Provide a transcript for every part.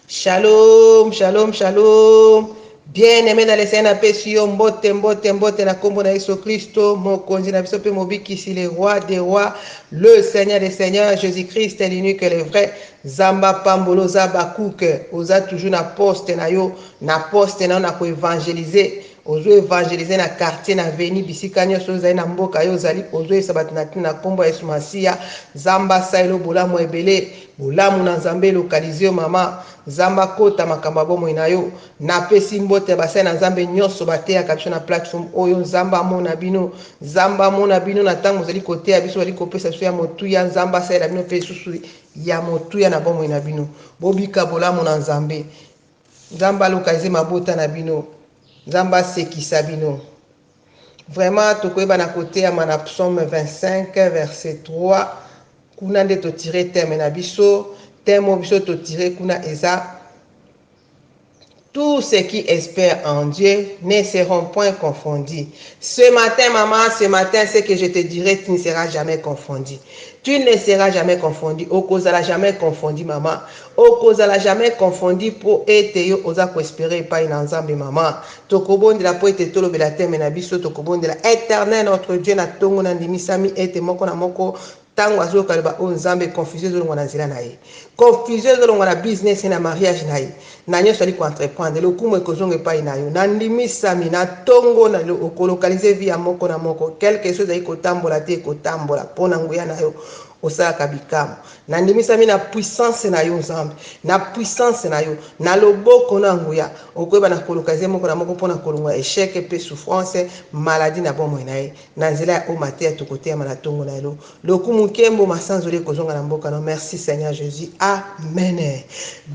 Shalom, shalom, shalom. Bien aimé dans le Seigneur, napesi yo mbote, mbote, mbote na kombo na Yesu Kristo, mokonzi na biso pe mobikisi, le roi des rois, le Seigneur des seigneurs, Jésus-Christ, l'unique, le vrai. Zamba pambolo za bakuke, oza toujours na poste na yo, na poste na yo na ko evangeliser. Ozo evangeliser na quartier na avenue bisika nionso oyo ozali na mboka yo ozali ozo yebisa bato na tina na kombo ya yesu masiya nzambe asali lo bolamu ebele bolamu na nzambe elokalize yo mama nzambe akota makambo ya bomoi na yo na pesi mbote ya basali na nzambe nionso bateyaka biso na plateforme oyo nzambe amona bino nzambe amona bino na ntango ozali koteya biso ozali kopesa biso ya motuya nzambe asalela bino mpe lisusu ya motuya na bomoi na bino bobika bolamu na nzambe Nzambe aloka eze mabota na bino nzambe asekisa bino vraiment tokoyeba na koteyama na psaume 25 verset 3 kuna nde totire teme na biso teme oyo biso totire kuna eza tout ce qui espère en Dieu ne seront point confondus. Ce matin, maman, ce matin, ce que je te dirai, tu ne seras jamais confondu. Tu ne seras jamais confondu. Okozala jamais confondu, maman. Okozala jamais confondu mpo ete yo oza ko esperer epayi na Nzambe maman. Tokobondela mpo ete tolobela theme na biso, tokobondela Eternel notre Dieu na tongo na ndimisami ete moko na moko tango azoyoka liloba oyo Nzambe confusion ezolongwa na nzela na ye. Confusion ezolongwa na business ye, na mariage na ye, na nionso azali ko entreprendre. Lokumu ekozonga epayi na yo. Na ndimisami na tongo na lelo oko localiser vie ya moko na moko. Quelque chose ezali kotambola te ekotambola mpo na nguya na yo osalaka bikamo. Nandimisami na puissance na yo Nzambe, na puissance na yo, na loboko na nguya. Okoyeba na koluka ye moko na moko mpo na kolongola echec mpe souffrance, maladie na bomoi na ye. Na nzela ya oyo mateya tokoteyama na tongo na lelo. Lokumu, nkembo, masanzoli ekozonga na mboka na yo. Merci Seigneur Jesus. Amen.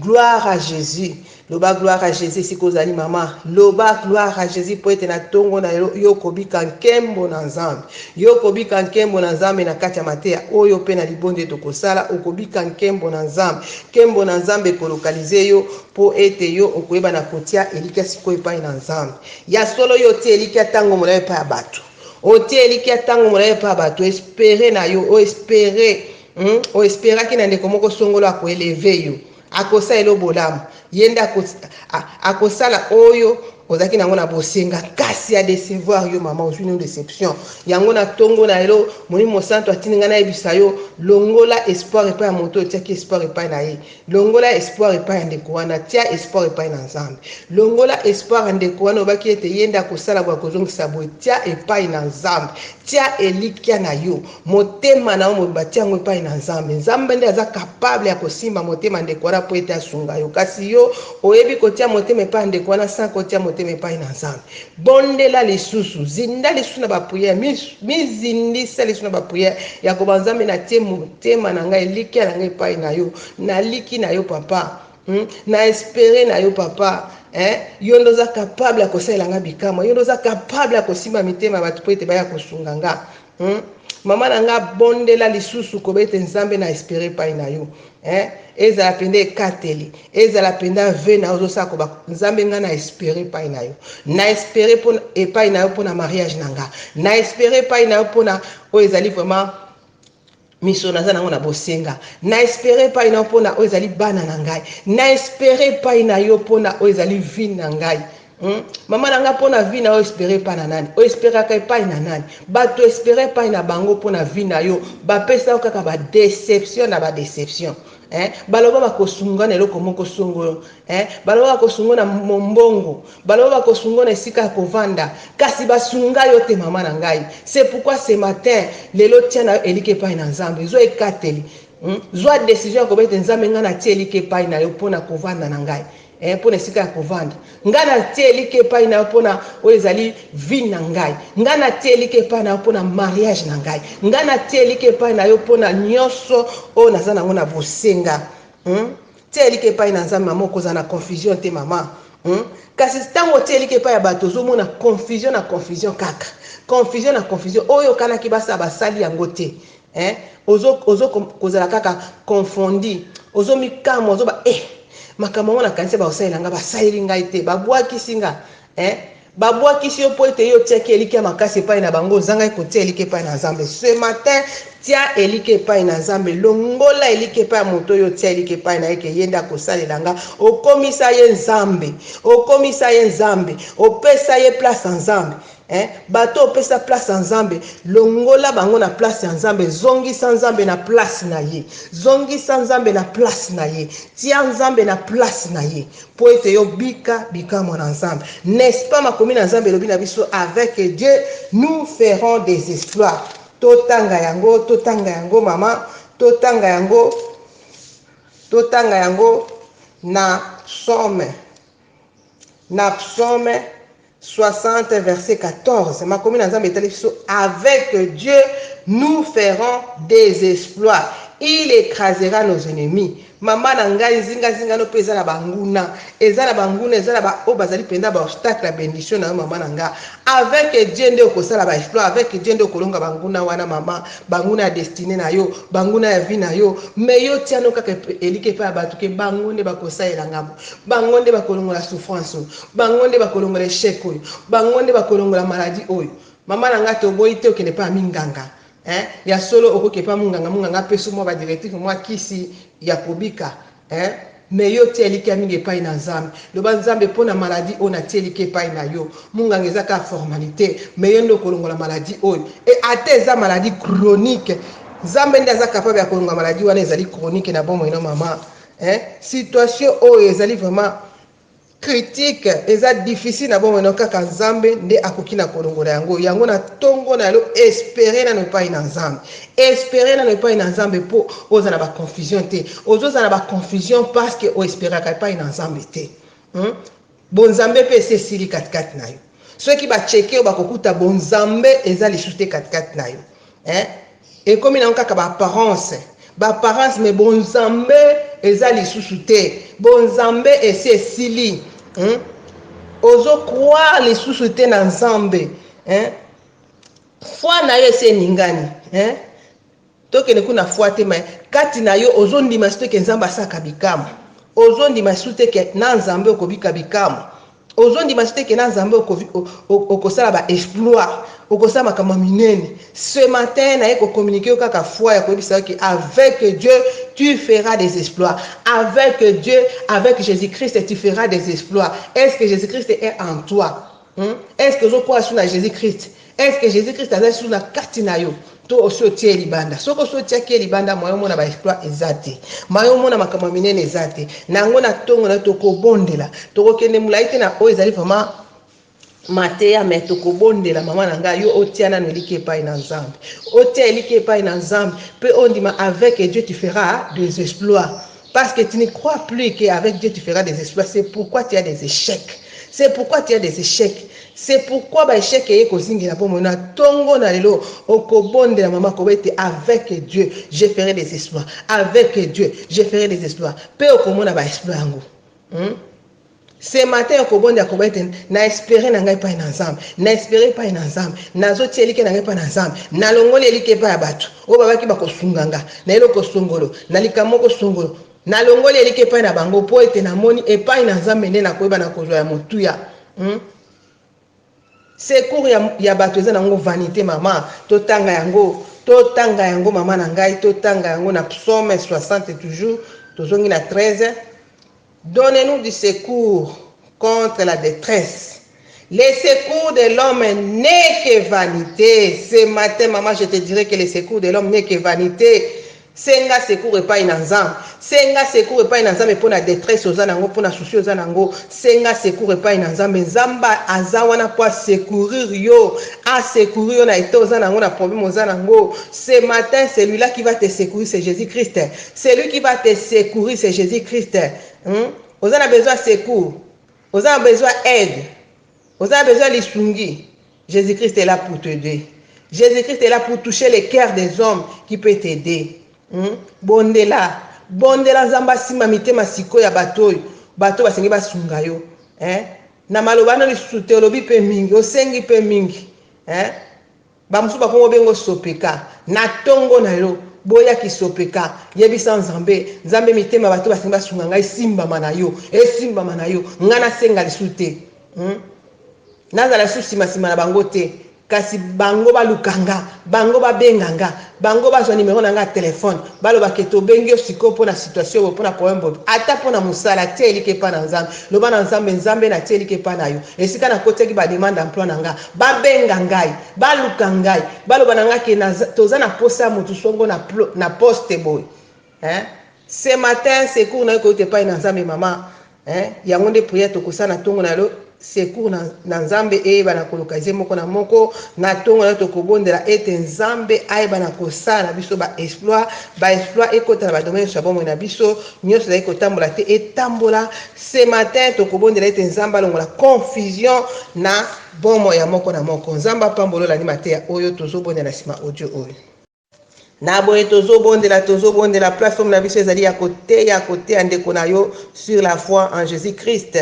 Gloire à Jesus. Loba gloire à Jesus esika ozali mama loba gloire à Jesus po ete na tongo na yo yo kobika nkembo na Nzambe yo kobika nkembo na Nzambe na kati ya mateya oyo pe na libonde tokosala okobika nkembo na Nzambe nkembo na Nzambe ekolokalize yo po ete yo okoyeba na kotia elikya sikoyo epai na Nzambe ya solo yo otie elikya ntango molai epai ya bato otie elikya ntango molai epai ya bato espere na yo oespere hmm? oesperaki na ndeko moko songolo akoeleve yo Akosalela yo bolamu. Ye nde ako, a, akosala oyo ozalaki na yango na bosenga, kasi a decevoir yo. Mama, ozwi nanu deception yango na tongo na lelo. Molimo Mosantu atindi ngai nayebisa yo, longola espoir epai ya moto oyo otiaki espoir epai na ye. Longola espoir epai ya ndeko wana, tia espoir epai na Nzambe. Longola espoir ya ndeko wana, olobaki ete ye nde akosala boye, akozongisa boye. Tia epai na Nzambe, tia elikya na yo. Motema na yo mobimba tia yango epai na Nzambe. Nzambe nde aza capable ya kosimba motema ndeko wana mpo ete asunga yo. Kasi yo oyebi kotia motema epai ya ndeko wana sans kotia motema epai na Nzambe. Bondela lisusu, zinda lisusu na ba prière, mizindisa mi lisusu na ba prière ya koba Nzambe na tie motema na ngai, elikya na ngai epai na yo. Naliki na yo papa. Hmm? Na espere na yo papa. Eh, yo nde oza capable ya kosalela nga bikamwa. Yo nde oza capable ya kosimba mitema ya bato mpo ete baya kosunga nga. Hum maman na nga bondela lisusu koba ete nzambe na espere epai na yo eh, ezala mpenza ekateli ezala mpenza ve na yo ozosala koba nzambe nga na espere epai na yo na espere epai na yo mpo na mariage na nga na espere epai na yo mpo na oyo ezali vraiment Miso naza nango na bosenga. Na espere epai na yo mpo na oyo ezali bana na ngai. Na espere epai na yo mpo na oyo ezali vie na ngai. Hmm? Mama na ngai mpo na vie na yo espere epai na nani? Oesperaka epai na nani? Bato espere epai na bango mpo na vie na yo bapesa yo kaka ba deception na ba deception. Eh? Baloba bakosungana eloko moko songo yo. Eh, baloba bakosungo na mombongo, baloba bakosungo na esika ya kovanda, kasi basunga yo te mama na ngai. C'est pourquoi ce matin, lelo tia na yo elike epai na Nzambe, zwa ekateli, hmm? zwa decision ya kobe te Nzambe ngai natie elike epai na yo mpo na kovanda na ngai eh, mpo na esika ya kovanda ngai natie elike epai na yo mpo na oyo ezali vie na ngai ngai natie elike epai na yo mpo na mariage na ngai ngai natie elike epai na yo mpo na nyonso oyo naza nango na bosenga hmm? Tia elikya epai na Nzambe maman okozala na confusion te maman hmm? kasi ntango otia elikya epai ya bato ozomona confusion na confusion kaka confusion na confusion oyo okanaki basala basali yango te eh? ozo, ozo kozala kaka confondi ozomikamwa ozoba eh, makambo yango nakanisa bakosalela ngai basaleli ngai te babwakisi ngai eh? Babwakisi yo mpo ete yo otiaki elikya makasi epai na bango, ozangaki kotia elikya epai na Nzambe. Ce matin, tia elikya epai na Nzambe. Longola elikya epai ya moto oyo otia elikya epai na ye ke ye nde akosalela nga. Okomisa ye Nzambe. Okomisa ye Nzambe. Opesa ye place ya Nzambe. Eh, bato opesa place ya Nzambe, longola bango na place ya Nzambe. Zongisa Nzambe na place na ye. Zongisa Nzambe na place na ye. Tia Nzambe na place na ye. Mpo ete yo bika bikamwa na Nzambe. N'est ce pas makomi na Nzambe elobi na biso avec Dieu nous ferons des exploits. Totanga yango, totanga yango mama, totanga yango, totanga yango na psaume, na psaume 60 verset 14 makomi na nzambe etali biso avec dieu nous ferons des exploits il écrasera nos ennemis mama na ngai nzingazinga no mpe eza na banguna eza na banguna eza na baoyo bazali mpenza baobstacle ya bendition na yo mama na nga avec dieu nde okosala baexploit avec dieu nde okolonga banguna wana mama banguna ya destine na yo banguna ya vie na yo me yo tiano kaka elike epai ya bato ke bango nde bakosalela ngambo bango nde bakolongola souffrance Bango nde bakolongola echec oyo. Bango nde bakolongola maladie oyo. Maman na nga toboyi te okende epa ya minganga hein ya solo okoki epa ya munganga munganga apeso mua ba directif mua kisi ya kobika hein mais yo tia elikia mingi epayi na nzambe loba nzambe pona maladie oyo na tie elikia epayi na yo munganga eza kaka formalite mais yo nde okolongola maladie oyo et ata eza maladie chronique nzambe nde aza capable ya kolongola maladie wana ezali chronique na bomoi no maman hein situation oyo ezali vraiment Critique eza difficile na bomoi nayo kaka nzambe nde akoki na kolongola yango yango na tongo na yo espere nano epai na nzambe espere nano epai na nzambe po ozala ba confusion te ozozala ba confusion parceque o esperaka epai na nzambe te hmm? bonzambe pe esi esili katikati na yo Soki ba checker yo bakokuta bonzambe eza lisusu te katikati na yo eh? ekomi nango kaka ba apparence ba apparence me bonzambe eza lisusu te bonzambe esi esili hmm? ozo croire lisusu te na nzambe eh? foi na yo esi eningani eh? Tokende kuna fois te mais kati na yo ozo ndima sute ke Nzambe asalaka bikamwa? Ozo ndima sute ke na Nzambe okobika bikamwa? Ozo ndima sute ke na Nzambe oko okosala ba exploit? Okosala makambo ya minene? Ce matin naye ko communiquer yo kaka foi ya koyebisa yo ke avec Dieu tu feras des exploits. Avec Dieu, avec Jesus Christ tu feras des exploits. Est ce que Jesus Christ est en toi? Hum, est ce que ozokola su na Jesus Christ? Est ce que Jesus Christ aza su na kati na yo? To osi otie libanda? Soki osi otiaki ye libanda, mayo mona ba exploit eza te, mayo mona makambo ya minene eza te. Na yango na ntongo na tokobondela, tokokende molai te na oyo ezali vraiment mateya me tokobondela mama na ngai yo otia nano eliki epai na nzambe otia eliki epai na nzambe mpe ondima avec dieu tu feras des exploits Parce que tu ne crois plus que avec Dieu tu feras des exploits, c'est pourquoi tu as des échecs. C'est pourquoi tu as des échecs. C'est pourquoi ba échecs eye kozingela bomo na tongo na lelo okobondela mama koba ete avec Dieu je ferai des exploits. Avec Dieu je ferai des exploits. Pe okomona ba exploits yango. Hmm? Ce matin ya kobonde ya koba ete na espere na ngai epai na Nzambe, na espere epai na Nzambe, nazotia elikya na ngai epai na Nzambe, nalongoli elikya epai ya bato oyo babaki bakosunga nga na eloko songolo, na likambo moko songolo, nalongoli elikya epai na bango mpo ete namoni epai na Nzambe nde nakoyeba nakozwa ya motuya. Hmm? Secours ya ya batu eza nango vanite maman totanga yango totanga yango maman na ngai totanga yango na psaume 60 toujours tozongi na 13 donne nous du secours contre la detresse les secours de l'homme n'est que vanite ce matin maman je te dirais que les secours de l'homme n'est que vanite Senga secours epayi na nzambe senga secours epayi na nzambe pona detresse oza nango pona souci oza nango senga secours epayi na nzambe nzambe aza wana po a secourir yo a secourir yo na etat oza nango na problème oza nango ce matin celui là qui va te secourir c'est Jesus Christ celui qui va te secourir c'est Jesus Christ hum oza na besoin ya secours oza na besoin ya aide Oza besoin lisungi. Jesus Christ est là pour t'aider. Jesus Christ est là pour toucher les cœurs des hommes qui peut t'aider. Hmm? Bondela, bondela Nzambe asimba mitema siko ya bato oyo, bato basengi basunga yo. Eh? Na maloba no lisusu te olobi pe mingi, osengi pe mingi. Eh? Ba mosusu ba kongo bengo sopeka na tongo na yo boya ki sopeka yebisa nzambe nzambe mitema bato basengi basunga ngai esimbama na yo esimbama na yo ngai nasenga lisu te hmm? nazala lisu sima sima na bango te kasi bango baluka nga bango babenga nga Bango bazwa numero na nga ya telephone baloba ke tobengi yo sikoyo pona situation boye pona problème boye ata pona musala tia elikya epa na nzambe loba na nzambe nzambe na tia elikya epa nayo esika na kotiaki ba demande d'emploi na nga ba benga ngai ba luka ngai baloba na nga ke toza na posa ya mutu songo na poste boye hein ce matin secours na yo koyuta epai na nzambe mama hein yango nde prière tokosala na tongo na yo secours na, na nzambe eyeba na kolokalize moko na moko na tongo na tokobondela ete nzambe ayeba na kosala na biso baexploit baexploit ekota na badomaine nyonso ya bomoi na biso nyonso ezali kotambola te etambola ce matin tokobondela ete nzambe alongola confusion na bomoi ya moko na moko nzambe apambolola ni mateya oyo tozobondela nsima audio oyo Na boye tozo bondela tozo bondela platform na biso ezali ya koteya koteya ndeko na yo sur la foi en Jesus Christ.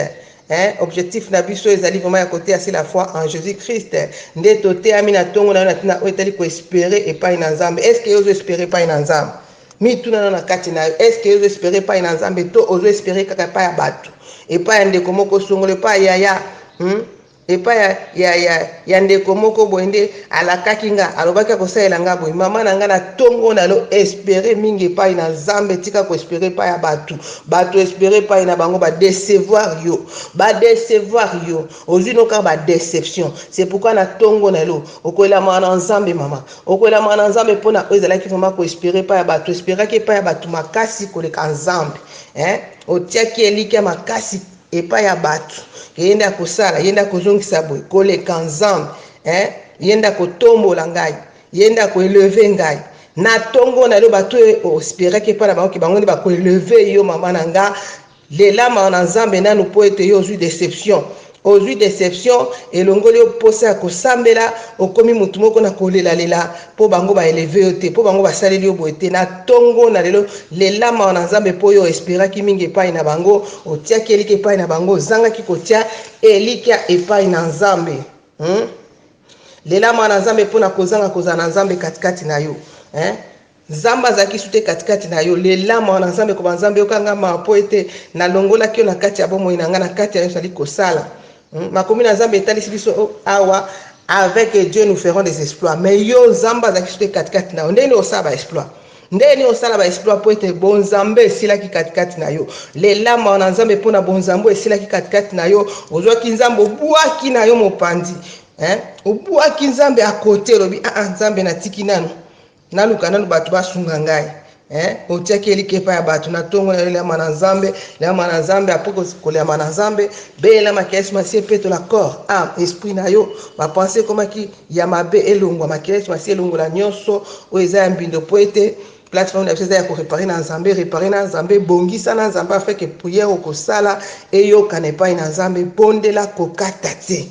Hein, objectif na biso ezali vraiment ya koteya sur la foi en Jesus Christ. Nde toteyami na tongo na yo na tina oyo etali ko espérer epai na Nzambe. Est-ce que yo ozo espérer epai na Nzambe? Mituna na na kati na yo. Est-ce que yo ozo espérer epai na Nzambe to ozo espérer kaka epai ya bato? Epai ya ndeko moko songolo epai ya yaya? Hmm? epai ya, ya, ya, ya ndeko moko boye, nde alakaki nga, alobaki akosalela nga boye, mama na nga na tongo na lo espere mingi epai na Nzambe, tika ko espere epai ya batu, batu espere epai na bango, ba decevoir yo, ba decevoir yo, ozwi no kaka ba deception, c'est pourquoi na tongo na lo okoelamaka na Nzambe mama, okoelamaka na Nzambe po na oyo ezalaki vraiment ko espere epai ya batu, esperaki epai ya batu makasi koleka Nzambe, eh, otiaki elikya makasi epai ya batu ke ye nde akosala ye nde akozongisa boye koleka nzambe eh ye nde akotombola ngai ye nde ako eleve ngai na tongo na yo batu ospiraki epai na bango ke bango nde bako eleve yo mama na nga lelama na nzambe nanu mpo ete yo ozwi deception ozwi deception elongoli yo mposa ya kosambela okomi mutu moko na kolelalela Po bango ba eleve yo te, po bango basaleli yo boye te, na tongo na lelo lela mawa na Nzambe po yo o esperaki mingi epai na bango, otiaki elikya epai na bango, ozangaki kotia elikya epai na Nzambe. Hum? Lela mawa na Nzambe po na kozanga kozala na Nzambe katikati na yo. Hein? Nzambe azalaki su te katikati na yo. Lela mawa na Nzambe, koba Nzambe yoka nga mawa po ete nalongolaki yo na kati ya bomoi na nga, na kati ya nyonso nali kosala. Hmm, makomi na Nzambe etalisi biso oh, awa avec Dieu nous ferons des exploits mais yo Nzambe azalaki soki katikati na yo ndenge osala ba exploits ndenge nini osala baexploit mpo ete bonzambe esilaki katikati na yo lelama wana nzambe mpo na bonzambe oyo esilaki katikati na yo ozwaki nzambe obwaki na yo mopanzi obwaki nzambe akote olobi aa ah, ah, nzambe natiki nano Naluka nanu bato basunga ngai eh, otiaki eliki epai ya bato na ntongo na yo eliama na nzambe liama na nzambe apres koliama na nzambe beyelamaki yesu masi epetola corps ame esprit na yo bapense ekomaki ya mabe elongwa makila yesu masi elongola nyonso oyo eza ya mbindo mpo ete plateforme na biso eza ya korepare na nzambe repare na nzambe bongisa na nzambe afeke priere okosala eyokana epai na nzambe bondela kokata te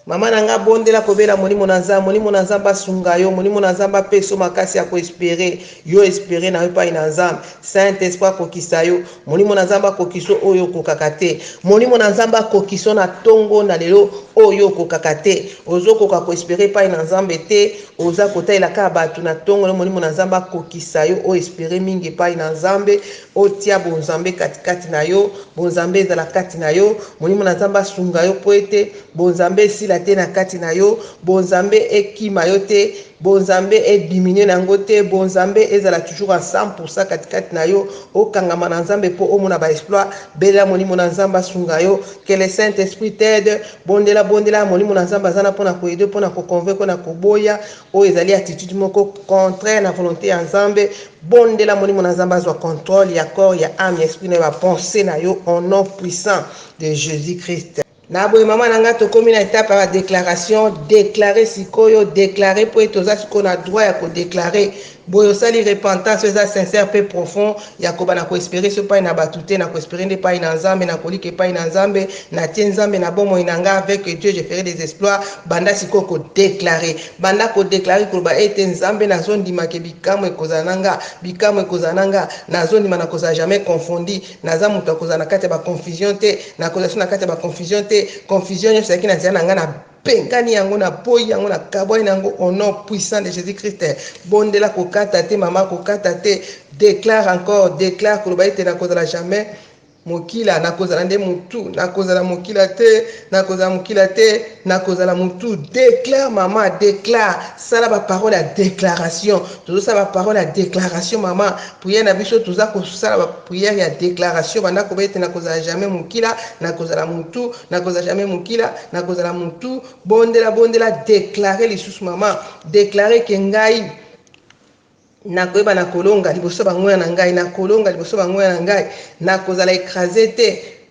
Maman na nga bondela kobela molimo na nzambe molimo na nzambe asunga yo molimo na nzambe apesa yo makasi ya ko espere yo espere na yo epai na nzambe saint esprit akokisa yo molimo na nzambe akokisa yo oyo okokaka te molimo na nzambe akokisa yo na ntongo na lelo oyo okokaka te ozokoka ko espere epai na nzambe te oza kotalela kaka bato na ntongo lelo molimo na nzambe akokisa yo o espere mingi epai na nzambe Otia bonzambe katikati na yo, bonzambe ezala kati na yo, Molimo na Nzambe asunga yo mpo ete bonzambe esila te na kati na yo, bonzambe ekima yo te, bonzambe e diminuer na yango te, bonzambe ezala toujours à 100 pour 100 katikati na yo, okangama na Nzambe mpo omona ba exploits, belela Molimo na Nzambe asunga yo, que le Saint Esprit t'aide, bondela, bondela, Molimo na Nzambe aza na mpo na ko aider yo, mpo na ko convaincre yo na koboya. Oyo ezali attitude moko contraire na volonte ya Nzambe. Bondela molimo na Nzambe azwa controle ya corps, ya ame, ya esprit na yo, ba pensees na yo au nom puissant de Jesus Christ. Na boye mama na ngai tokomi na etape ya ba declarations, declarer sikoyo, declarer mpo ete oza sikoyo na droit ya ko declarer. Boye osali repentance oyo eza sincère pe profond ya koba na ko esperer so epai na batu te na ko esperer nde epai na Nzambe na kolika epai na Nzambe na tie Nzambe na bomoi na nga avec Dieu je ferai des exploits banda sikoyo ko declarer banda ko declarer koloba ete Nzambe na zo ndima ke bikamwa ekozala na nga bikamwa ekozala na nga na zo ndima na kozala jamais confondi naza mutu ya kozala na kati ya ba confusion te na kozala so na kati ya ba confusion te confusion nionso ezalaki na nzela na nga na Mpe nkani yango na poi yango na kabwani na yango au nom puissant de Jesus Christ bondela kokata te mama kokata te declare encore declare koloba ete nakozala jamais mokila nakozala nde mutu nakozala mokila te nakozala mokila te nakozala mutu declare mama declare sala baparole ya declaration tozosala baparole ya declaration mama priere na biso toza kosala bapriere ya declaration banda koba ete nakozala jamais mokila nakozala mutu nakozala jamais mokila Nakozala mutu bondela bondela declare lisusu mama declare ke ngai nakoyeba na kolonga liboso bangoya na ngai na kolonga liboso bangoya na ngai nakozala ekrase te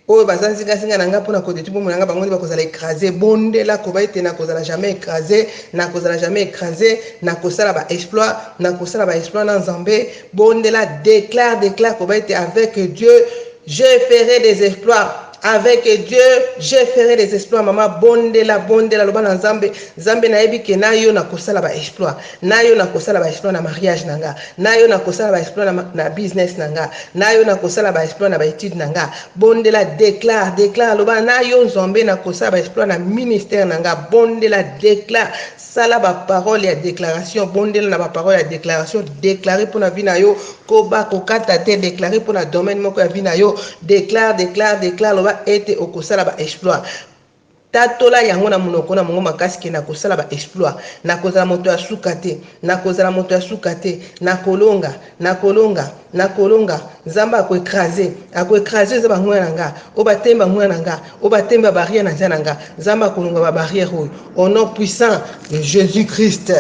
oyo baza nzingazinga na ngai mpo na kodeti bomoi na ngai bango nde bakozala ekrase bondela koba ete nakozala jamais ekrase nakozala jamais ekrase nakosala baexploit nakosala baexploit na nzambe bondela declare declare koba ete avec dieu je ferai des exploits Avec Dieu je ferai des exploits mama bondela bondela loba na nzambe nzambe nayebi ke na yo nakosala ba exploit na yo nakosala ba exploit na mariage na nga na yo nakosala ba exploit na, na business na nga na yo nakosala ba exploit na ba étude na nga bondela declare declare loba na yo nzambe nakosala ba exploit na ministère na nga bondela declare Sala ba paroles ya declaration, bondela na ba paroles ya declaration, declarer pona vie na yo, koba kokata te, declarer pona domaine moko ya vie na yo, declare, declare, declare, loba ete okosala ba exploits. Tatola yango na monoko na mongo makasi ke nakosala ba exploits, nakozala moto ya suka te, nakozala moto ya suka te, nakolonga, na kolonga na kolonga nzambe ako ecrase ako ecrase eza bangoya na nga oyo batemba ngoya na nga oyo batemba ba barrière na nzia na nga nzambe akolonga ba barrière oyo au nom puissant de jésus christ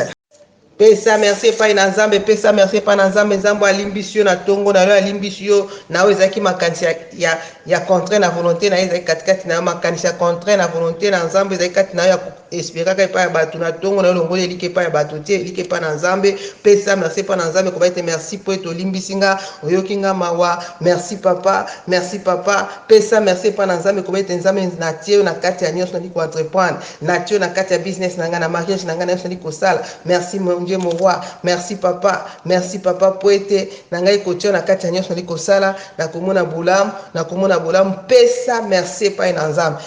pesa merci epai na nzambe pesa merci epai na nzambe nzambe alimbisi yo na ntongo na yo alimbisi yo na oyo ezalaki makanisi ya, ya, ya contraire na volonté na ye ezalaki katikati na yo makanisi ya contraire na volonté na nzambe ezalaki kati na yo ya Esperaka epai ya bato na tongo na yo longola elikya epai ya bato te, elikya epai na Nzambe. Pesa merci epai na Nzambe, koloba ete, Merci mpo ete olimbisi nga, oyoki nga mawa. Merci Papa, merci Papa. Pesa merci epai na Nzambe, koloba ete, Nzambe, natie yo na kati ya nyonso nazali ko entreprendre. Natie yo na kati ya business na ngai, na mariage na ngai, na nyonso nazali kosala. Merci mon Dieu, mon Roi. Merci Papa, merci Papa mpo ete na ngai kotia yo na kati ya nyonso nazali kosala, nakomona bolamu, nakomona bolamu. Pesa merci epai na Nzambe.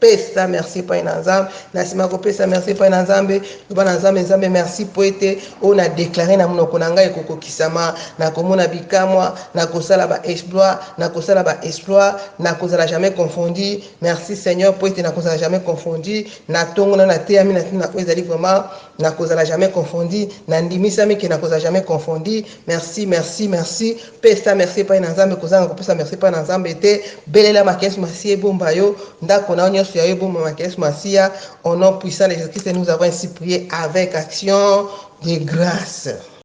pesa merci epai na nzambe na nsima ya kopesa merci epai na nzambe loba na nzambe nzambe merci mpo ete oyo na deklare na monoko na ngai ekokokisama nakomona bikamwa nakosala baexploit nakosala baexploit nakozala jamais confondi merci seigneur mpo ete nakozala jamais confondi natongola nateyami na ntina oyo ezali vraiment Nakozala jamais confondu, na ndimisami que nakozala jamais confondu. Merci, merci, merci. Pesa merci epai na Nzambe, kozanga kopesa merci epai na Nzambe te. Belela maki Yesu Masiya ebomba yo, ndako na yo nyonso ya yo ebomba maki Yesu Masiya. Au nom puissant de Jésus-Christ, nous avons ainsi prié avec action de grâce.